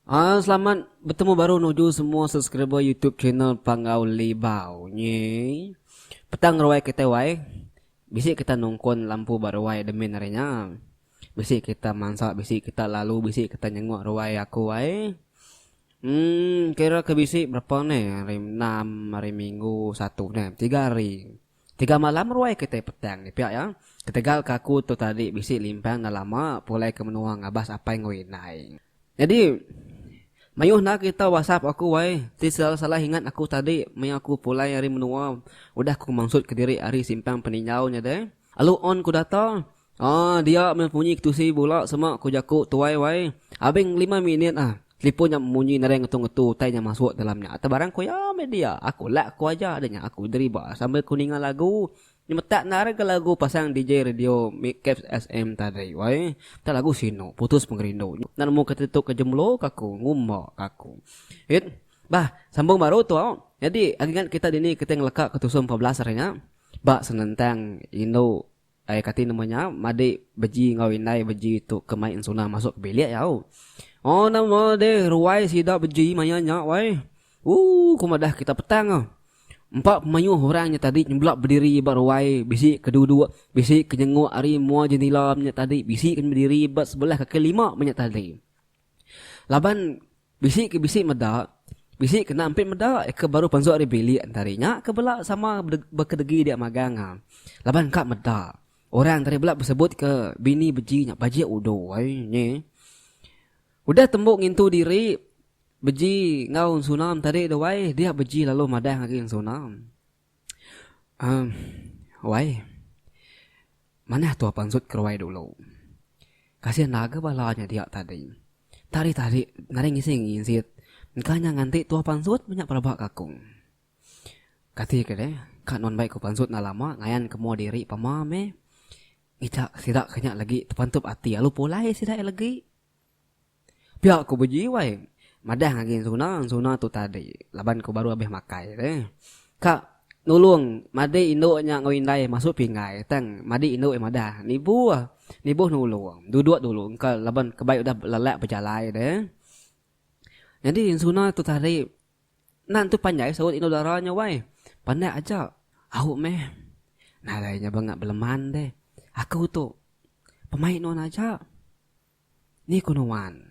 Aaa selamat betemu baru nuju semua subscriber YouTube channel Panggau Libau nyi. Petang ruai kitai wai. Bisi kita nungkun lampu ba ruai admin ari nya. Bisi kita mansa bisi kita lalu bisi kita nyenguk ruai aku ai. Emm kira ke bisi berapa ne hari enam hari minggu satu ne tiga hari. Tiga malam ruai kitai petang ni pia iya. Ketegal ke aku tu tadi bisi limpang dah lama pulai ke menua ngabas apai enggau indai. Nyadi, mayuh enda kita wasap aku ai, ti salah-salah ingat aku tadi maya aku pulai ari menua udah aku mansut ke diri ari simpang peninjau nya deh. Alu on ku data, aa dia meh munyi ke tusi bula sema ku jaku tuai wai, abeng lima minit ah telipon nya munyi nadai ngetu-ngetu utai nya masuk dalam nya. Tebarang ku iya meh dia, aku lak ku aja deh nya aku deriba sambil ku ninga lagu Nyemetak enda rega lagu pasang DJ radio mik caps sm tadi wai. Enda lagu sinu putus pengerindu nyu enda nemu kati tu ke jemlo ke aku ngumba ke aku. It Bah sambung baru tu au. Nyadi agi ngat kita dini kitai ngeleka ke tusung empat belas hari nya ba senentang indu ai kati nama nya madi beji enggau indai beji tu ke mai ensuna masuk ke bilik au. Oh nama deh ruai sida beji maya nya wai. Ooh ku madah kita petang ah. Empa pemayuh orang nya tadi nyebelak bediri ba ruai, bisi ke duduk, bisi ke nyenguk ari mua jendila menya tadi, bisi ke bediri ba sebelah kaki lima menya tadi. Laban bisi ke bisi meda, bisi kena ampit meda iya ke baru pensu ari bilik entari nya ke bela sama bekedegi dia magang ah. Laban ka meda. Orang tadi bela besebut ke bini beji nya bajik udo ai nyi. Udah tembu ngintu diri Beji enggau ensunam tadi tu wai dia beji lalu madah ngagai ensunam. Um wai. Manah tua pansut keruai dulu. Kasih naga bala nya dia tadi. Tadi tadi nadai ngisi ngisit engka nya nganti tua pansut menya pelaba ka aku. Kati ke deh ka nuan bai ku pansut enda lama ngayan ke mua diri pama meh. Ngejak sida ke nya lagi tepantup ati lalu pulai sida iya lagi. Pia ku Beji wai madah ngagi ensuna ensuna tu tadi laban ku baru abih makai re. Ka nulung madi indu nya enggau indai masu pinggai tang madi indu ai madah nibuh nibuh nulung duduk dulu engka laban ke bai udah lelak bejalai re. Nyadi ensuna tu tadi enda tentu panjai saut indu dara nya wai pandak aja au meh nadai nya bengap beleman deh aku tu pemain nuan aja Ni ku nuan.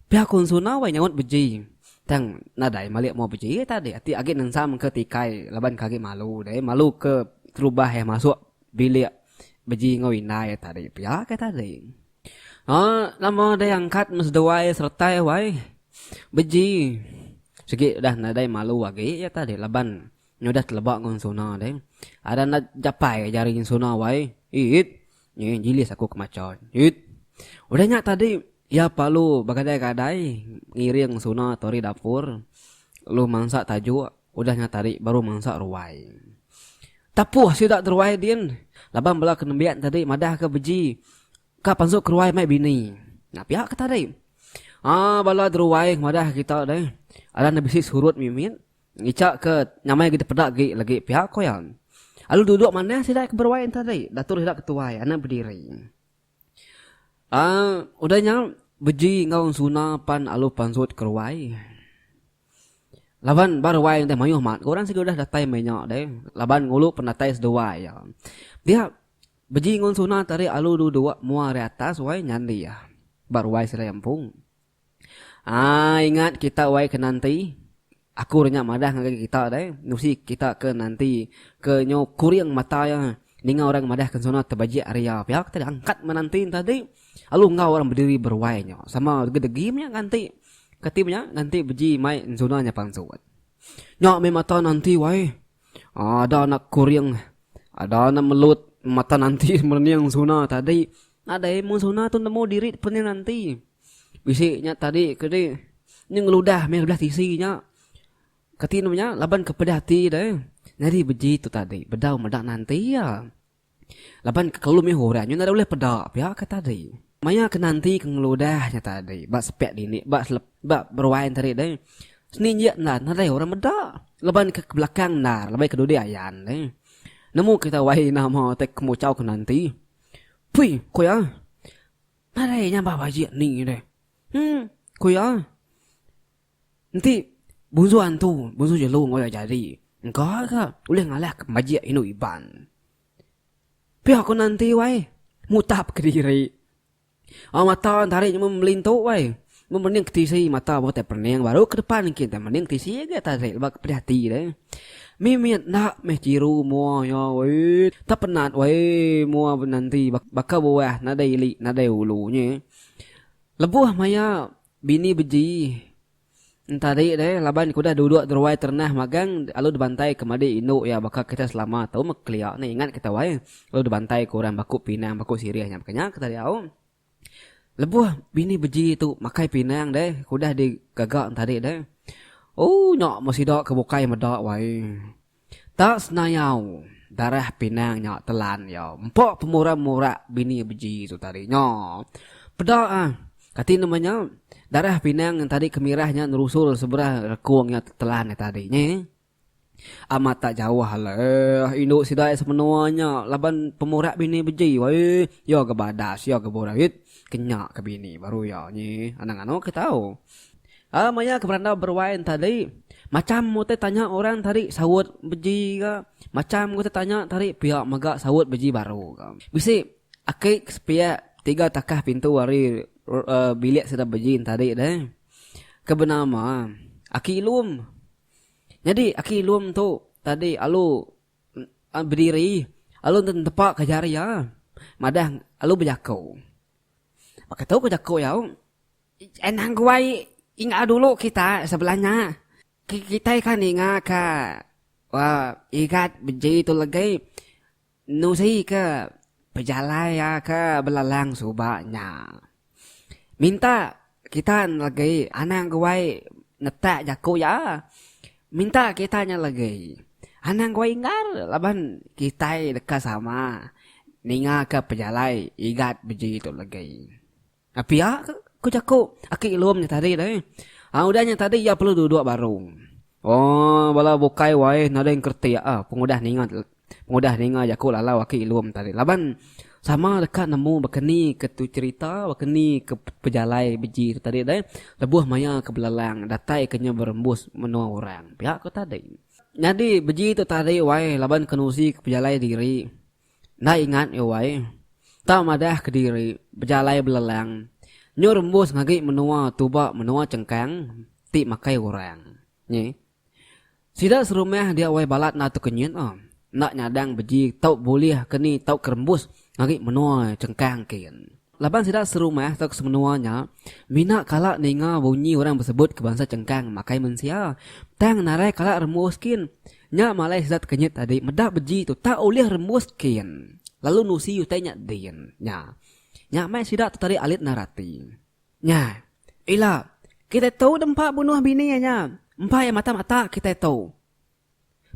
Pia ku Ensuna wai nyaut beji tang nadai malik mua beji ai tadi ati agi nensam ke tikai laban ke agi malu deh malu ke terubah eh masuk bilik beji enggau indai ai tadi pia ke tadi. Aa nama deh angkat meh seduai seretai wai beji sigi udah nadai malu agi iya tadi laban Nya udah teleba enggau sona deh. Ada enda japai ka jari sona wai. It. Nyi jilis aku ke macha. It. Udah nya tadi iya palu begadai-gadai ngiring sona tu ari dapur lu mansa tajuk udah nya tadi baru mansa ruai. Tapuh sida ti ruai din laban bala ke nembiak tadi madah ke beji ka pansu ke ruai mai bini. Nya pia ke tadi. Aa bala ti ruai madah kita deh. Ada enda bisi surut mimit. Ngica ke nyamai agi dipeda agi lagi piak ko iya. Alu duduk manah sida ke beruai enta ari datur sida ke tuai anak bediri. Aaa udah nya beji enggau suna pan alu pansut ke ruai. Laban ba ruai udah mayuh mat ko orang sigi udah datai meh nya deh laban ngulu penatai seduai iya. Dia beji enggau suna tadi alu duduk mua ari atas wai nyandi iya ba ruai sida empu. Haa ingat kita wai ke nanti aku dah nya madah ngagai kita deh nusi kita ke nanti ke nyo kuring mata iya ninga orang madah ke nsuna tebajik ari iya pia kita diangkat menanti tadi lalu enggau orang bediri beruai nyo sama degi degi meh nganti kati meh nya nganti beji mai nsuna nya palsu wan. Nya meh mata nanti wai haa ada anak kuring ada anak melut mata nanti mening nsuna tadi nadai mun nsuna tu nemu diri pening nanti. Bisi nya tadi ke ni nya ngeludah meh belah tisi nya. Kati nemu nya laban ke peda ati deh. Nyadi beji tu tadi bedau meda nanti iya. Laban ke kalu meh orang nya enda ulih peda pia ke tadi. Maya ke nanti ke ngeludah nya tadi ba sepak dini ba selep ba beruai enti hari deh. Seni injek enda nadai orang meda laban ke belakang endar laban ke dudi ayan deh. Nemu kita wae nama te kemuchau ke nanti. Pui ku iya. Nadai nyabah bajik ni deh. Hmm, ku iya. Enti bunsu antu, bunsu jelu enggau iya jadi, engka ga ulih ngalah ke bajik indu Iban. Pia ku nanti wai, mutap kediri. Amat mata tarik nyemah melintu wai. Memening ke tisi mata bau tai pening baru ke depan engkin tai mening ke tisi agi atas ai leba ke pedih ati deh. Mimit enda meh chiru mua iya wee. Tak penat wee mua benanti baka buah nadai ili nadai ulu nye. Lebuh maya bini beji entadi deh laban ke udah duduk deruai terenah magang lalu dibantai ke madi indu iya baka kita selama tu meh kelia ingat kita wee lalu dibantai ke orang baku pinang baku sirih nya baka nya ke tadi au. Lebuh bini beji tu makai pinang deh ke udah di gaga ne tadi deh. Ooh nya meh sida ke bukai meda wai. Ta senayau darah pinang nya telan iya. Empa pemurang murak bini beji tu tadi nya. Peda ah kati nama nya darah pinang tadi ke mirah nya nerusul seberang rekung nya telan nya tadi nyeh. Amat tak jauh alai eh indu sida iya semenua nya laban pemurak bini beji wai iya ga badas iya ga burit kenya ka bini baru iya nyi anang anu ke tau a maya ke berandau beruai enta di macham utai tanya orang tadi saut beji ga macham utai tanya tadi pia mega saut beji baru ga bisi aki ke sepiak tiga takah pintu ari bilik sida beji enta di deh ke benama aki lum. Nyadi aki Lum tu tadi alu bediri alu enda netepa ka jari iya madah alu bejako. Baka tu ko jako iya anang guai inga dulu kita sebelah nya kitai ka ninga ka igat beji tu legai. Nusika pejalai iya ke belalang suba nya. Minta kita ngelegi anang guai netak jaku iya. Minta kita ngelegi anang guai inggar laban kitai deka sama ningaka pejalai Igat beji tu legi. Ka pia ke, ku jaku aki Lum nya tadi deh. Hang udah nya tadi iya perlu duduk baru. Oh, bala bukai waih nading keretik ah pengudah ninga pengudah ninga jaku lalau aki Lum tadi. Laban sama deka nemu baka ni ke tu cherita, baka ni ke pejalai beji tu tadi deh. Lebuh maya ke belalang datai ke nya berembus menua orang. Pia ko tadi. Nyadi beji tu tadi waih laban kenusi ke pejalai diri. Enda ingat iya wai. Tau madah kediri bejalai belelang nyu rembus ngagi menua tuba menua chengkang ti makai orang. Nyi. Sida serumah dia wai balat enda tekenyit ah. Enda nyadang beji tau bulih ke ni tau ke rembus ngagi menua chengkang kin. Laban sida serumah tauka semenua nya mina kala ninga bunyi orang besebutka bansa Chengkang makai mensia, tang narai kala rembus kin. Nya malai sida tekenyit tadi meda beji tu tak ulih rembus kin lalu nusi utai nya din. Nya, nya mai sida tu tadi alit endar ati. Nya, ila kitai tu dempa bunuh bini iya nya, empa iya mata-mata kitai tu.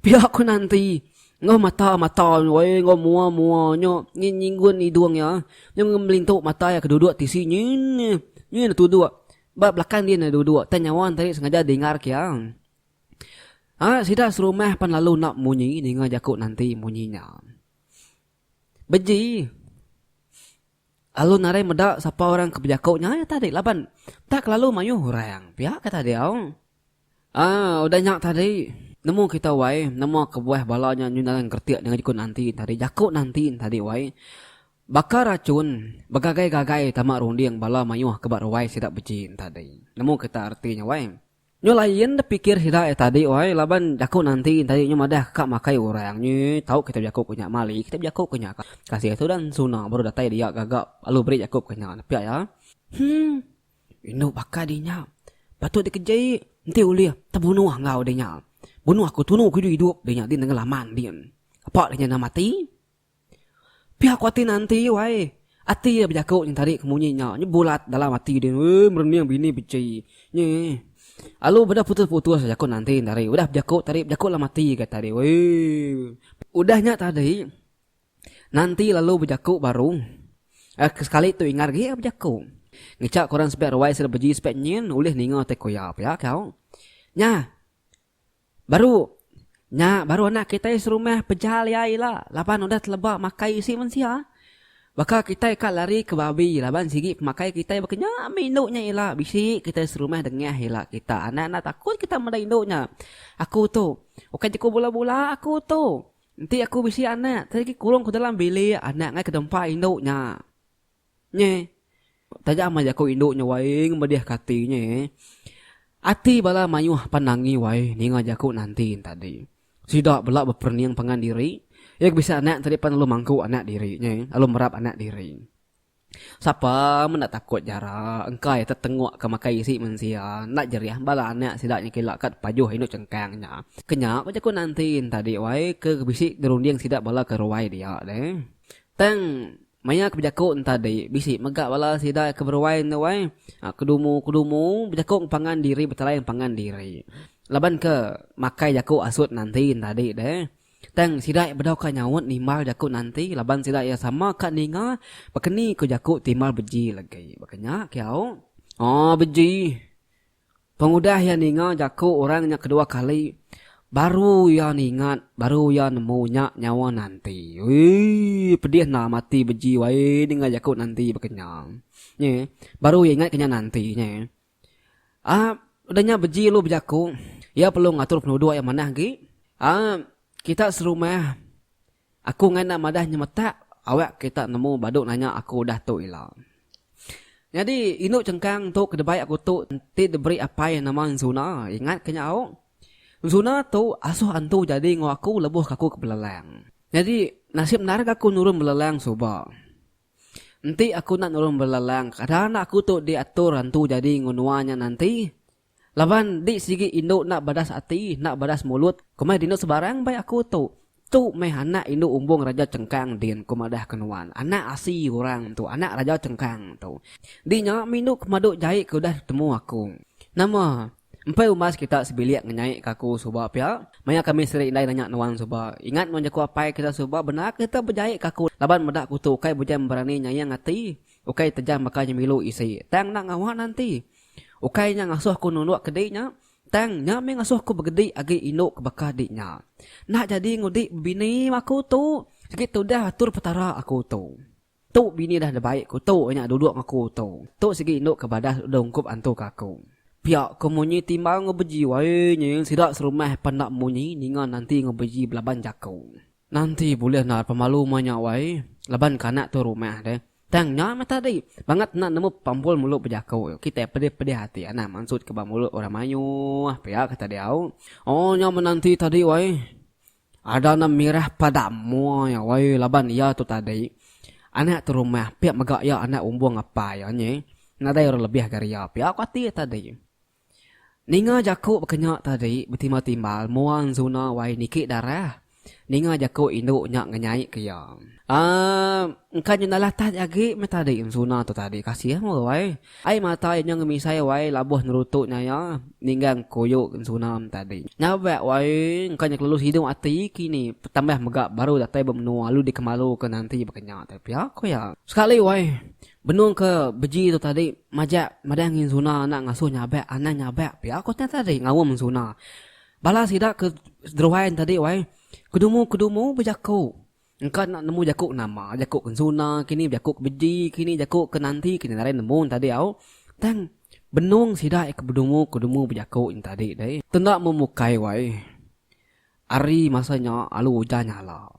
Pia ku Nanti, enggau mata-mata nya, enggau mua-mua nya, nyin nyinggun hidung iya, nya ngemelintu mata iya ke duduk tisi nyin, nyin enda tuduk, ba belakang din enda duduk, tang nyawa Enti sengaja dengarka iya. Ha, sida serumah pan lalu enda munyi ninga jaku Nanti munyi nya. Beji. Lalu nadai meda sapa orang ke bejaku nya iya tadi laban enda kelalu mayuh orang pia kata diau. Aa udah nya tadi nemu kita wai nama kebuah bala nya nyun ngaran keretik dengan jeku nanti tadi jaku nanti tadi wai baka rachun begagai-gagai tama runding bala mayuh ke ba ruai sida beji tadi nemu kita arti nya wai. Nyu lain da pikir sida ai tadi wai laban jaku nanti tadi nyu madah ka ka makai urang nyu tau kita bejaku ku nya mali kita bejaku ku nya ka kasih tu dan suna baru datai dia gaga lalu beri jaku ku nya pia iya humm indu baka dinya patut dikeji enti ulih tebunuh enggau dinya bunuh aku tunu ku idup idup dinya di nengelaman din apak dinya enda mati. Pia ko ati Nanti u ai. Ati iya bejaku nyeng tadi ke munyi nya nyu bulat dalam ati din wee merening bini beci nyi alu beda putus putus aja ko Nanti enda ari udah bejaku tadi bejaku dalam ati ga tadi wee. Udah nya tadi Nanti lalu bejaku baru ke sekali tu Ingat agi bejaku ngicha ko orang sepiak ruai sida beji sepiak nyin ulih ninga tai ko iya pia ko nya. Baru nya baru anak kitai serumah pejal iya ila laban udah teleba makai isi mensia. Baka kitai ka lari ke babi laban sigi pemakai kitai baka nya meh indu nya ila bisi kitai serumah dengah ila kita anak enda takut kita meda indu nya aku tu ukai jaku bula bula aku tu enti aku bisi anak tadi agi kurung ku dalam bilik anak ngai ke dempa indu nya. Nya eh. Taja amai jaku indu nya waing medih ke ati nya eh. Ati bala mayuh pan nangi wai ninga jaku Nantin tadi. Sida bela beperening pangan diri. Iya ke bisi anak tadi pan lalu mangku anak diri nya eh, lalu merap anak diri. Sapa meh enda takut jara engkai tetengok ke makai isi mensia. Enda jerih bala anak sida nya kila kad pajuh indu chengkang nya. Ke nya ko jaku Nantin tadi wai ke bisi dirunding sida bala ke ruai dia deh. Tang Maya ke bejaku entadi, bisi mega bala sida ke beruai enda wai. Kedumu-kedumu bejaku ngepangan diri betelai ngepangan diri. Laban ke makai jaku asut nanti entadi deh. Tang sida iya bedau ka nyaut nimbal jaku nanti laban sida iya sama ka ninga bakani ku jaku timbal beji legi. Baka nya kiau. Aaa beji. Pengudah iya ninga jaku orang nya kedua kali, baru iya ningat, baru iya nemu nya nyawa Nanti. Uii, pedih enda mati beji wae ninga jaku Nanti baka nya. Nyi, baru iya ingatka nya Nanti nyi. Aa, udah nya beji ulu bejaku, iya perlu ngatur penuduk iya manah agi. Aa, kita serumah. Aku ngai enda madah nyemetak awak kita nemu badu nanya aku udah tu ila. Nyadi indu chengkang entu ke debai aku tu enti diberi apai nama Enzuna ingat ke nyau. Enzuna tu asuh antu jadi enggau aku lebuh ke aku ke belelang. Nyadi nasib endar ke aku nurun belelang suba. Enti aku enda nurun belelang kada enda aku tu diatur antu jadi enggau nua nya nanti. Laban di sigi indu enda badas ati, enda badas mulut, komai dinu sebarang bai aku tu. Tu meh anak indu umbung Raja Chengkang din, ku madahka nuan. Anak asi orang tu, anak Raja Chengkang tu. Di nya mindu ke madu jai ke udah ditemu aku. Nama? Empai umbas kita sebilik ngenyaika aku suba pia. Maya kami seri indai nanya nuan suba. Ingat nuan jaku apai kita suba bendar ke kita bejaika aku laban meda aku tu ukai bejam berani nyayang ati, ukai tejam baka nyemilu isi. Tang enda ngawa nanti. Ukai nya ngasuh aku nunduk ke dik nya, tang nya mih ngasuh aku begedik agi indu ke baka dik nya. Enda jadi ngudik bebini ba aku tu, sigi tudah atur Petara aku tu. Tu bini dah dibai aku tu nya duduk enggau aku tu. Tu sigi indu ke badas udah ungkup antu ke aku. Pia ke munyi timbal enggau beji wai nyil sida serumah pan enda munyi ninga nanti enggau beji belaban jaku. Nanti bulih endar pemalu mai nya wai laban kanak tu rumah deh. Tang nya meh tadi bangat enda nemu pampul mulut bejaku tu kitai pedih-pedih ati anang mansut ke ba mulut orang mayuh pia kata diau. Oh nya meh nanti tadi wai ada enda mirah pada mua iya wai laban iya tu tadi anak tu rumah pia mega iya anak umbung apai iya nyi nadai orang lebih gari iya pia ku ati iya tadi. Ninga jaku baka nya tadi betimba timbal mua enzuna wai niki darah. Ninga jaku indu nya ngenyai ke iya. Aaa engka nya enda latah ti agi meh tadi enzuna tu tadi kasih mu wai. Ai mata iya nya ngemisai wai labuh nerutu nya iya ninggang kuyu enzuna tadi. Nyabak wai engka nya kelalu sidu ati kini tambah mega baru datai ba menua lalu dikemalu ke nanti baka nya tadi pia ku iya. Sekali wai. Benung ke beji tu tadi majak madah ngi Zuna enda ngasuh nyabak anang nyabak pia ku nya tadi ngaum Zuna. Bala sida ke Druan tadi wai kedumu-kedumu bejaku engka enda nemu jaku ke nama jaku ke Zuna kini jaku ke beji kini jaku ke nanti ke nya ngaran nemu tadi au tang benung sida ke bedumu-kedumu bejaku nya tadi deh. Tu enda memukai wai ari masa nya alu ujan nyala.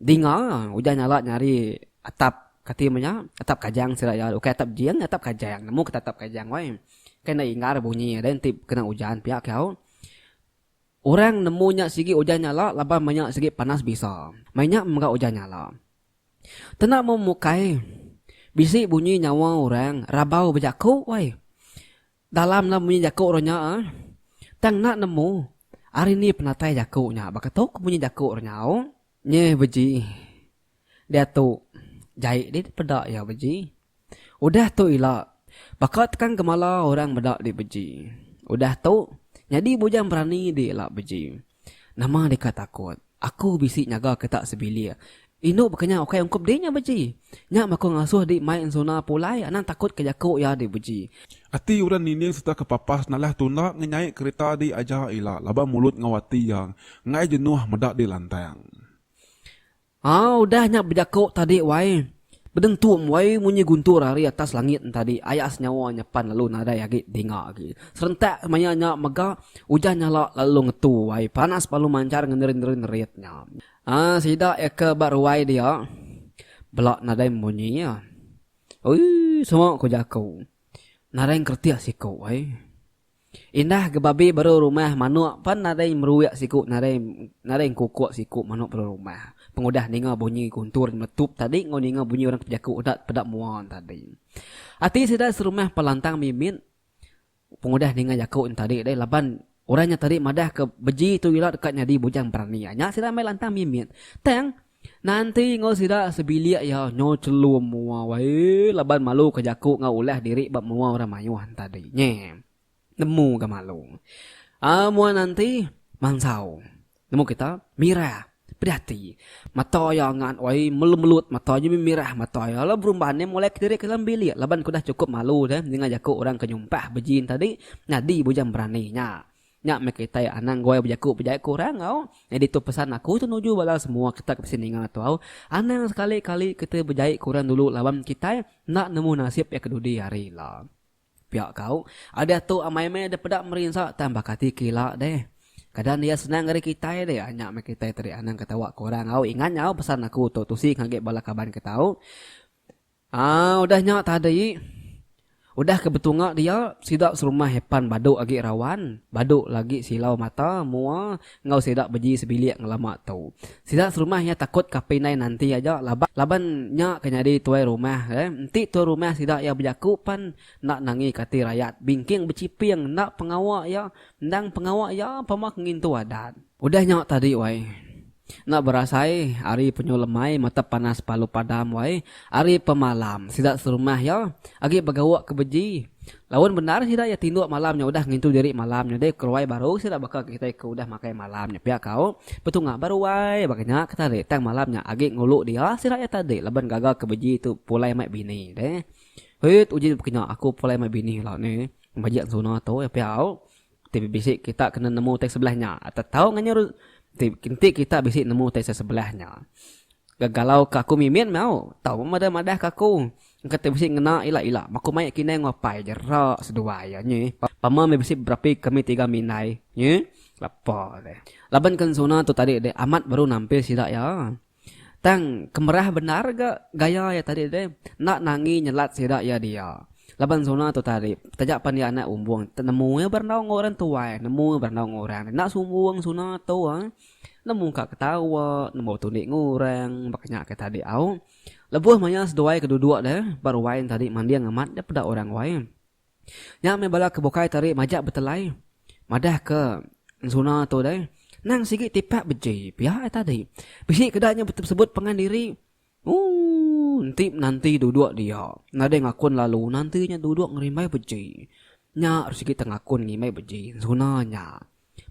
Dinga ujan nyala nyari atap kati mah nya atap kajang sida iya ukai atap jin atap kajang nemu kita atap kajang wai kai enda inggar bunyi deh enti kena ujan pia ke au orang nemu nya sigi ujan nyala laban meh nya sigi panas bisa meh nya mega ujan nyala tena meh mukai bisi bunyi nyawa orang rabau bejaku wai. Dalam nama munyi jaku orang nya ah. Tang enda nemu ari ni penatai jaku nya baka tu ke munyi jaku orang nyau. Nye beji. Diatu jai dih dipeda iya beji. Udah tu ila baka tekan gemala orang meda dih beji. Udah tu nyadi bujang berani dih ila beji. Nama deka takut. Aku bisi nyaga kita sebilik. Indu bekenyah ukai ungkup dik nya beji. Nya baka ngasuh dik mai ensuna pulai anang takut ke jaku iya dik beji. Ati orang nining serta ke papas nalah tunda ngenyai kerita dik aja ila laban mulut enggau ati iya enggai jenuh meda dik lantang. Haa udah nya bejaku tadi wai. Bedeng tu mbai munyi guntur ari atas langit entadi aya senyawa nya pan lalu nadai agi dinga agi. Serentak maya nya mega ujan nyala lalu ngetu wai panas balu manchar ngenerinrin-rit nya. Aa sida iya ke ba ruai dia bela nadai munyi iya. Ui sema ku jaku. Nadai ngeretih siku ai. Indah ke babi baru rumah manok pan nadai meruik siku nadai nadai engkukok siku manok baru rumah pengudah ninga bunyi guntur nyeletup tadi enggau ninga bunyi orang ke bejaku udah peda mua tadi. Ati sida serumah pan lantang mimit pengudah ninga jaku nya tadi deh laban orang nya tadi madah ke beji tu ila deka nyadi bujang berani nya sida meh lantang mimit tang Nanti enggau sida sebilik iya nyo celum mua wae laban malu ke jaku enggau ulah diri ba mua orang mayuh entadi nye. Nemu ga malu. Aa mua nanti mansau. Nemu kita mirah. Pedih ati. Mata iya ngat wae melut-melut mata nye meh mirah mata iya la berumban nye molek diri ke dalam bilik laban ke udah cukup malu deh ninga jaku orang ke nyumpah beji entadi nyadi bujang berani nya. Nya meh kitai anang guai bejaku bejai ke orang au. Nyadi tu pesan aku tu nuju bala semua kita ke bisi ninga tu au. Anang sekali kali kita bejai ke orang dulu laban kitai enda nemu nasib iya ke dudi hari ila. Pia ka au. Ari atu amai meh deh peda merinsa tang baka ati ke ila deh. Keadaan iya senang ari kitai deh. Nya meh kitai tadi anang ketawa ke orang au. Ingat nya au pesan aku tu tusi ngagai bala kaban kita au. Aa udah nya tadi. Udah ke betunga dia, sida serumah Epan badu agi rawan, badu lagi silau mata mua enggau sida beji sebilik ngelama tu. Sida serumah iya takut kapi indai nanti aja laban laban nya ke nyadi tuai rumah ke. Enti tuai rumah sida iya bejaku pan enda nangi ke ati rayat bingking bechiping enda pengawa iya endang pengawa iya pama ke ngintu adat. Udah nyaw tadi wai. Enda berasai ari penyu lemai mata panas palu padam wai. Ari pemalam sida serumah iya agi begauk ke beji. Laun bendar sida iya tinduk malam nya udah ngintu diri malam nya deh keruai baru sida baka kitai ke udah makai malam nya pia kau. Betunga baru wai baka nya ke tadi tang malam nya agi ngulu dia sida iya tadi laban gaga ke beji tu pulai mai bini deh. Hit uji baka nya aku pulai mai bini ila ni bejek ensuna tu pia au. Ti bisi kita kena nemu utai sebelah nya atau tau nganyur ti enti kita bisi nemu utai sebelah nya. Gegalau ke aku mimit meau tau meh meda madah ke aku. Engka ti bisi ngena ila ila meh aku mai kinai enggau apai aja ra seduai iya nyi. Pama meh bisi berapi kami tiga minai nyi lepa deh. Laban ke ensuna tu tadi deh amat baru nampil sida iya. Tang kemerah bendar ga gaya iya tadi deh enda nangi nyelat sida iya dia laban zona tu tadi taja pan iya anak umbong nemu iya berandau enggau orang tuai nemu iya berandau enggau orang enda sumbong zona tu ai nemu ka ketawa nemu tulik enggau orang baka nya ke tadi au lebuh maya seduai ke duduk deh ba ruai tadi manding amat deh peda orang wai. Nya meh bala ke bukai tadi majak betelai madah ke ensuna tu deh. Nang sigi tipak beji pia ai tadi. Bisi ke da nya sebut pengan diri ooh enti menanti duduk dia nadai ngakun lalu nanti nya duduk ngerimbai beji. Nya sigi tengakun ngimbai beji ensuna nya.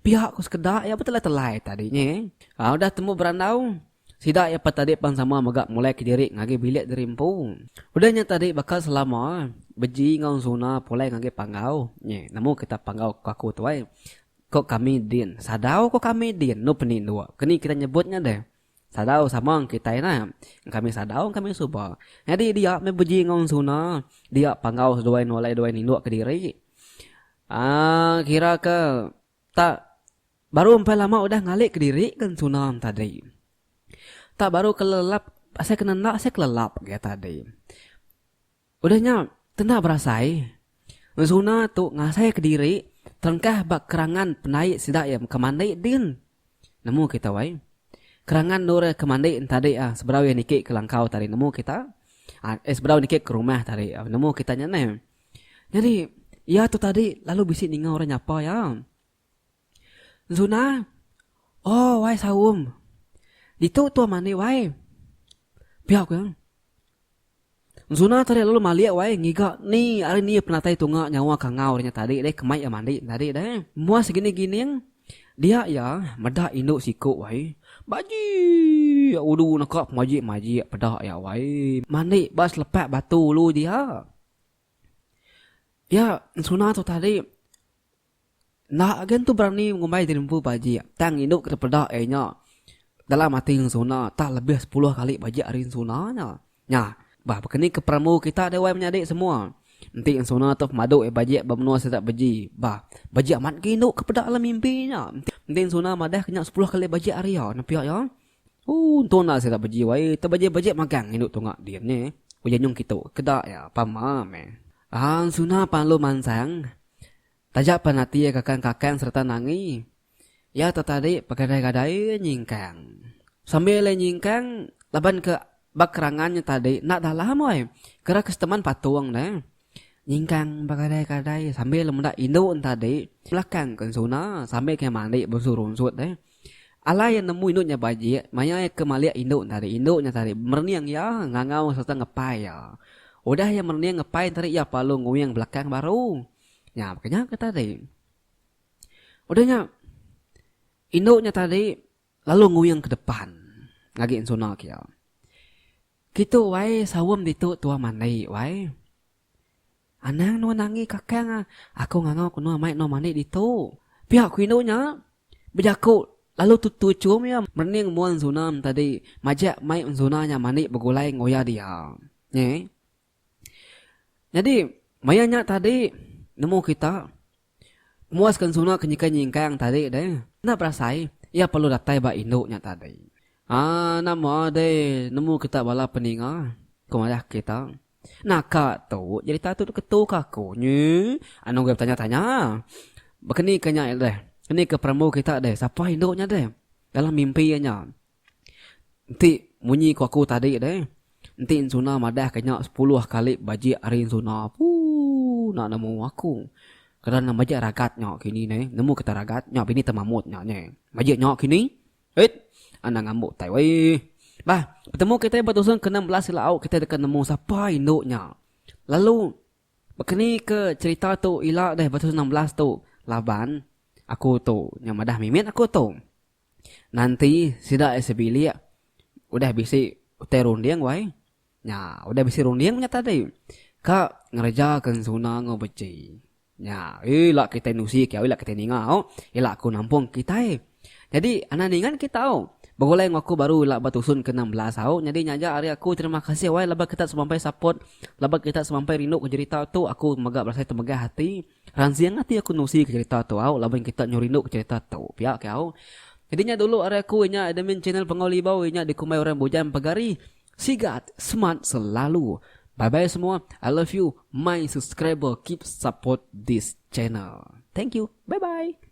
Pia ku sekeda iya betelai-telai tadi nya. Aa udah tembu berandau, sida iya pa tadi pan sama mega mulai ke diri ngagai bilik diri empu. Udah nya tadi baka selama beji enggau suna pulai ngagai panggau. Nya nemu kita panggau ku aku tu ai. Ko kami din, sadau ko kami din, enu penindu. Keni kita nyebut nya deh. Sadau sama eng kitai nah. Engkami sadau engkami suba. Nyadi dia meh beji enggau ensuna, dia panggau seduai nolai duai nindu kediri. Aaa kira ke tak baru empai lama udah ngali kediri ke ensuna tadi. Tak baru kelelap asai ke nenda asai kelelap ke tadi. Udah nya, kena berasai, Zuna tu ngasaika diri terengkah ba kerangan pendai sida iya mega mandi din. Nemu kita wai. Kerangan endur iya ke mandi entadi ah seberau iya niki ke langkau tadi nemu kita. Ah seberau niki ke rumah tadi ah nemu kita nya neh. Nyadi iya tu tadi lalu bisi ninga orang nyapa iya. Zuna, Oh wai Saum. Ditu tua mani wai. Pia ku iya. Zuna tadi lalu malik wai ngiga ni ari ni penatai tunga nyawa kangau nya tadi deh kemai iya mandi tadi deh. Mua segini gining dia iya meda indu siku wai bajik ulu neka pemajik-majik peda iya wai mandi ba selepak batu ulu dia. Iya Zuna tu tadi. Enda gen tu berani ngumbai diri empu bajik tang indu ke dipeda iya nya dalam ati ensuna tang lebih sepuluh kali bajik ari ensuna nya. Nya bah baka ni ke perambu kita dewai menyadi semua. Enti ensuna tu pemadu iya bajik ba menua sida beji bah bajik amat ke indu ke peda dalam mimpi nya. Enti ensuna madah ke nya sepuluh kali bajik ari iya nepia iya. Ooh entu enda sida beji wai te bejai-bejai magang indu tunga din nya uji nyung kitu ke da iya pama meh. Ensuna pan alu mansang Taja pan ati iya kakang-kakang sereta nangi, iya tetadi begadai-gadai nyingkang. Sambil iya nyingkang laban ke ba kerangan nya tadi enda dalam wai kira ke seteman patung ne nyingkang begadai-gadai sambil meda indu ne tadi belakang ke ensuna sambil kiye mandi bengsu runsut deh. Alai iya nemu indu nya bajik, maya iya ke malik indu nya tadi, indu nya tadi merening iya, ngangau sereta ngepai iya. Udah iya merening ngepai nya tadi, iya pelalu nguing belakang baru. Nya peka nya ke tadi. Udah nya, indu nya tadi lalu nguing ke depan ngagi ensuna ke iya. Kitu wai saum ditu tua mandi wai. Anang nuan angi kakang ah, aku ngangau ke nuan mai nuan mandi ditu. Pia ku indu nya bejaku lalu tutui chum iya merening mun Zunam tadi majak mai enzuna nya mandi begulai enggau iya dia. Nyi. Nyadi maya nya tadi nemu kita. Muas ken suna ke nyikai nyingkang tadi deh. Enda berasai, iya perlu datai ba indu nya tadi. Haa nama deh nemu kita bala peninga, ku Mayah kita. Naka tu jerita tu diketu ke aku. Nyi, anu agi betanya-tanya. Bekenika nya deh, kenika perambu kita deh, sapa indu nya deh. Dalam mimpi iya nya. Enti munyi ku aku tadi deh, enti ensuna madah ka nya sepuluh kali bajik hari ensuna, ooh enda nemu aku. Kada nang majak ragat nya kini neh, nemu kita ragat nya bini temamut nya neh. Majik nya kini, eit anang ambo tai weh. Bah, betemu kita ba dusun ke enam belas ila au kita deka nemu sapa indu nya. Lalu baka ni ke cerita tu ila deh ba dusun enam belas tu laban aku tu nya madah mimit aku tu. Nanti sida isi bilik udah bisi utai runding wai. Nya, udah bisi runding nya tadi. Ka ngereja ke ensuna enggau beci. Nya, ila kitai nusi kiau ila kitai ninga au, ila aku nampung kitai. Nyadi anak ningan kita au. Begulai enggau aku baru ila ba tusun ke enam belas au. Nyadi nya aja ari aku terima kasih wai laban kita semampai support, laban kita semampai rindu ke jerita tu. Aku mega berasai temegah ati. Ransing ati aku nusika cerita tu au laban kita nyau rinduka cerita tu pia ke au. Nyadi nya dulu ari aku inya admin channel Pangau Libau inya dikumbai orang bujang pagari. Sigat smart selalu. Bye bye semua I love you my subscriber keep support this channel. Thank you. Bye bye.